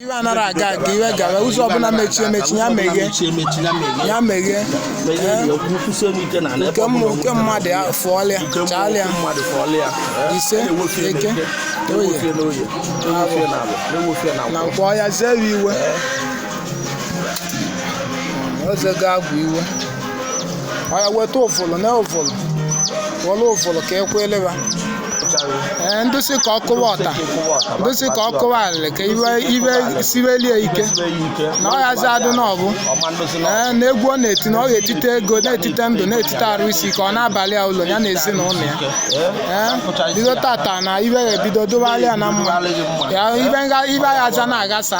iwe anara aga aga iwe gawa ụzọ ọbụla mechie emechi ya meghe ya meghe nke mmụọ nke mmadụ ya fụọlịa chaalịa ise eke oye na nkwọ ya zere iwe ozego agwụ iwe ọya weta ụfụlụ na ụfụlụ were ụfụlụ ka ekwele ha ee ndị sị ka ọ kụwa ọta ndị sị ka ọ kụwa alịlị ka iwe iwe siwelie ike na ọ yazi adị na ọ bụ ee na egwu ọ na-eti na ọ ga-etite ego na-etite ndụ na-etite arụ isi ike ọ na-abalị ya ụlọ ya na ezinụlọ ya ee bido tata na iwe ga-ebido dịbalị ya na mma ya ibe nga ibe ya aja na-agasa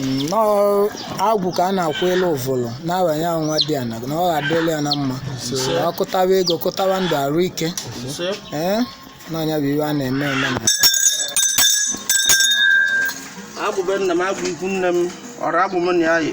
nnọọ agwụ ka a na-akụ elu ụvụlụ na-abanye ahụ nwadiana na ọ ga-adịrị ya na mma na ọ kụtawa ego kụtawa ndụ arụ ike ee na ọ nya bụ iwe a na-eme eme na agwụ be nna m agwụ ikwu nne m ọrụ agwụ m na ya yi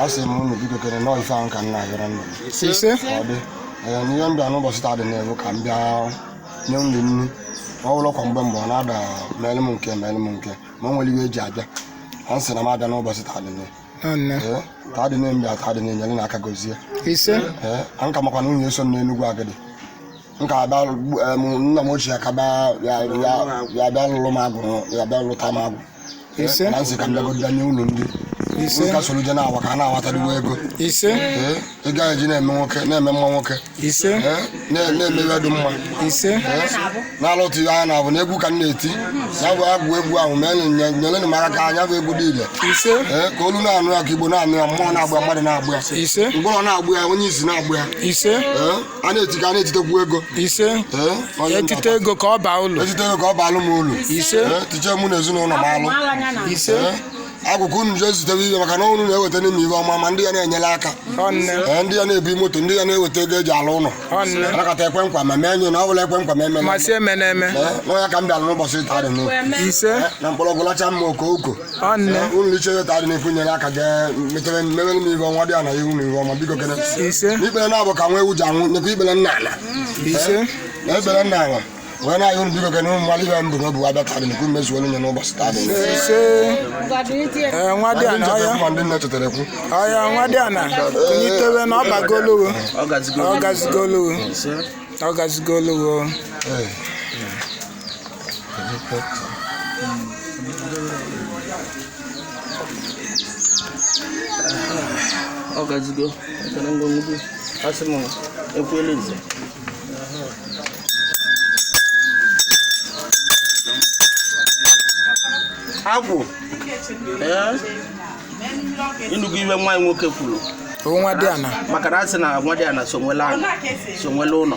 a sị m unu biko kere nọọ ife ahụ ka m na-agara nna m ise ka ọ dị ee n'ihe m bịa n'ụbọchị taa dị n'ebu ka m bịa nye nri nri ọ bụrụ kwa mgbe mgbe ọ na-ada meelụ m nke meelụ m nke ma o nwere ihe eji abịa a sị na m abịa n'ụbọchị taa dị n'ebu nne ee taa dị n'ebu bịa taa dị nyere n'aka gozie ise ee a nka makwa na nwunye eso m n'enugwu agidi m ka abịa lụ- em, nna m ochie ka bịa ya ya- ya bịa lụrụ m agwụ ya bịa lụta m agwụ Ise. na m sị ka m bịagodo nye unu nri Ise. nka soro je na-awa ka ha na-awatadịwa ego ise ee ị gaghị eji na-eme nwoke na-eme mma nwoke ise ee na- na-eme ihe dị mma ise n'ala otu ihe anya na-abụ na egwu ka m na-eti ya bụ agwụ egwu ahụ mee nye- nyere m aka ka nya bụ egwu dị ile ise ee ka olu na-anụ ya ka igbo na-anụ ya mmụọ na-agba ya mmadụ na-agba ya ise ngwụrọ na-agba ya onye isi na-agba ya ise ee a na-eti ka a na-etitekwu ego ise Ee, onye etite ntata. ego ka ọ baa ụlọ etite ego ka ọ baalụ m ụlọ Ise. Ee, tiche mụ na ezinụlọ m alụ ise Ee, agwụ ka unu jee zitewe ihe maka na unu na-eweta n'ime ihe ọma ma ndị ya na-enyere aka ọnne Ee, ndị ya na-ebu moto ndị ya na-eweta ego eji alụ ụlọ ọnne anakọta ekwe nkwa ma mee nye na ọ bụla ekwe nkwa ma emela masị eme na-eme na ọ nya ka m bịara n'ụbọchị taa dị n'ụlọ ise na mkpọrọgwụ lacha mmee ọkụkọ unu liche taa dị n'ekwu nyere aka ga-metere mmere m ibe ọnwa dị ana ihu na ihu ọma biko kene ikpere naabụ ka nwa ewu ji aṅụ nyekwa ikpere n'ala na ikpere n'ala wee na-ayọ unu biko kene ụmụ mmadụ ibe mbụ n'obu abịa taa dị n'ekwu mmezu olu nye n'ụbọchị taa dị nwadiana ọya ma ndị nne chetere kwu ọya nwadiana kunitewe na ọ bagolowo ọ gazigolowo ọ gazigolowo ọ gazigo ekele ngwongwo asị m ekwuelu nze agwụ ee ị nụgo ibe nwa anyị nwoke kwuru nwadiana maka na a sị na nwadiana so nwele ala so nwele ụlọ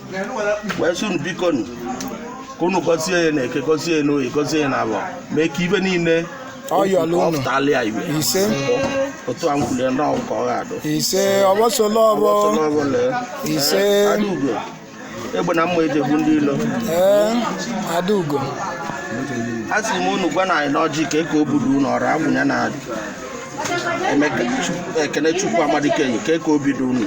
wee sị unu biko nụ ka unu gọzie ya na eke gọzie ya n'oye gọzie ya n'afọ mee ka ibe niile Ọ yọlụ unu. ọ pụtala ya iwe Ise. otu a m kwulie ndị agwụ ka ọ ga-adụ ise ọgbọsọla ọbọ Ọgbọsọla ọbọ lee. Ise. Ee, Adaugo egbe na mma e ji egbu ndị ilo ee adaugo a sị m unu gwa na anyị n'ọjị ka eke obi dị unu ọrụ agwụ nya na Emeka Chukwu- ekene chukwu amadike yi ka eke obi dị unu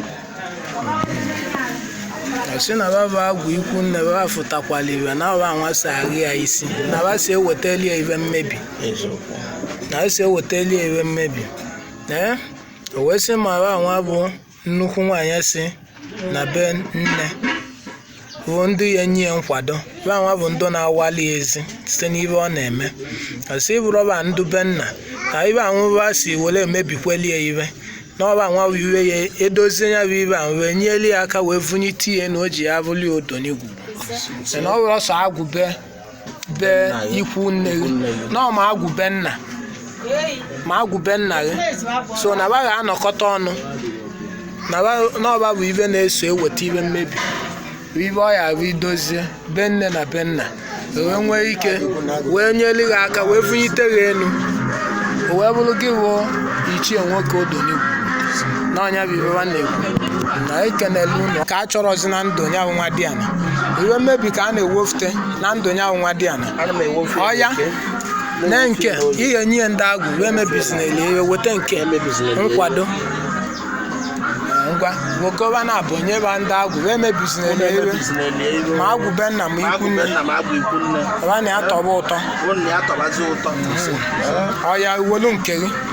sị na ba bụ agwụ ikwu nne baba fụtakwala ibe na ọ banwa si agha ya isi na ba si ewetali ya ibe mmebi eziokwu na ba si ewetali ya ibe mmebi ee o wee sị ma banwa bụ nnukwu nwaanyị si na be nne bụ ndị ya-enye ya nkwado banwa bụ ndị na-awali ya ezi site n'ibe ọ na-eme ọ sị bụrọ ba ndị be nna na ebe anwụ ba si were emebikweli ya ibe na ọ banwa bụ ibe ya-edozie ya bụ ibe ahụ wee nyeli ya aka wee vụnyite ya na o ji ya bụli odonigwu na ọ bụrọ sọ agwụ be be Nna gị. ikwu nne gị Ikwu nne gị. na ma agwụ be nna ma agwụ be nna gị so na ba ga-anọkọta ọnụ na ba- na ọ ba bụ ibe na-eso eweta ibe mmebi bụ ibe ọ ya-abụ i dozie be nne na be nna wee nwee ike wee nyeli gị aka wee vụnyite gị enu o wee bụrụ gị bụ ichie nwoke odonigwu na ọ nya bụ ibe nwa na-ekwu na ekenele unu ka a chọrọzi na ndụ ya bụ nwadiana ibe mmebi ka a na-ewefute na ndụ ya nwadiana ana m ewofu Ọ ya? na nke ị ya-enye ndị agwụ emebizinale ibe weta nke nkwado Eh, ngwa nwokowa na-ebunye ba ndị agwụ emebizinale ibe ma agwụ be nna ma ikwu nne nna ma agwụ ikwu nne ọ ba na ya tọba ụtọ unu ya tọbazi ụtọ ọ ya uwolu nke gị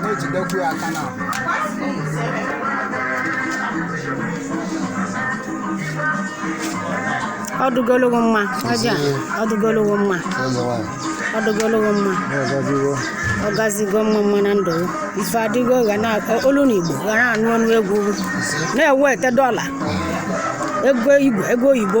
na-ejidekwu ya aka na ọ dụgolu gị mma ọja ọ dụgolu gị mma eze nwanyị ọ dụgolu gị mma na-agaziwo ọ gazigo mma mma na ndụ ya. ife adịgo gaa na olu na igbo ga na-anụ ọnụ egwu na-eweta dọla ego igbo ego oyibo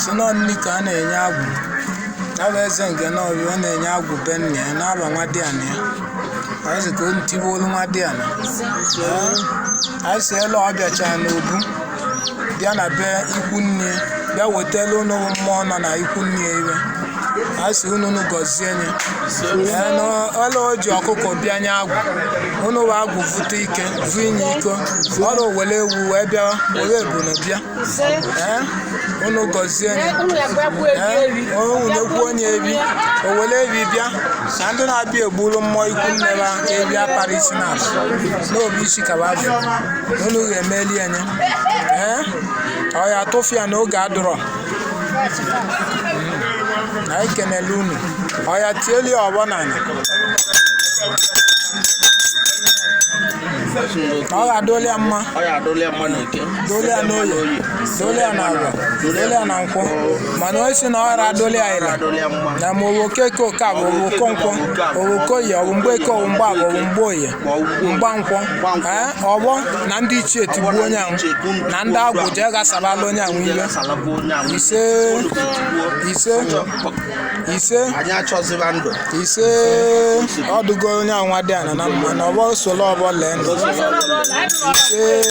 si nọ nri ka a na-enye agwụ ya bụ eze nke n'ọbịa ọ na-enye agwụ be nna ya na-aba nwadiana ya anyị si ka o tiwe olu nwadiana anyị si elu ọ bịacha n'obu bịa na be ikwu nne bịa wetala unu mmụọ nọ na ikwu nne ya ive a sị unu unu gọzie nye ọla o ji ọkụkọ bịa nye agwụ unu wụ agwụ vụta ike vụ inye iko ọla o wele ewu wee bịa were ebunu bịa Ee, unu gọzie nye owu na-ekwu onye evi o wele evi bịa na ndị na-abịa egbulu mmụọ ikwu nne ha evi apara isi na n'obi isi kaba azụ unu ga-emeli ya nye ee ọ ya atụfu ya n'oge adụrọ na anyị kenele unu ọ ya tieli ọvọ n'anị ka ọ ga-adụli ya mma ọ ya adụla ya mma n'Eke dụli ya n'Oyi dụli ya n'Avọ dụli ya na Nkwọ mana onye sị na ọ ghara adụli ya ịla adụla ya mma na ma ọ wụ Okeke Okeavọ ọ wụ Okonkwọ ọ wụ Okoyi ọ bụ Mgbeke ọ bụ Mgbavọ ọ bụ Mgboyi Mgbankwọ ọvọ na ndị ichie tigbuo onye ahụ na ndị agwụ jee ghasarala onye ahụ iwe ise ọdụgo onye ahụ nwadiana mma na ọvọ solo ọvọ lee ise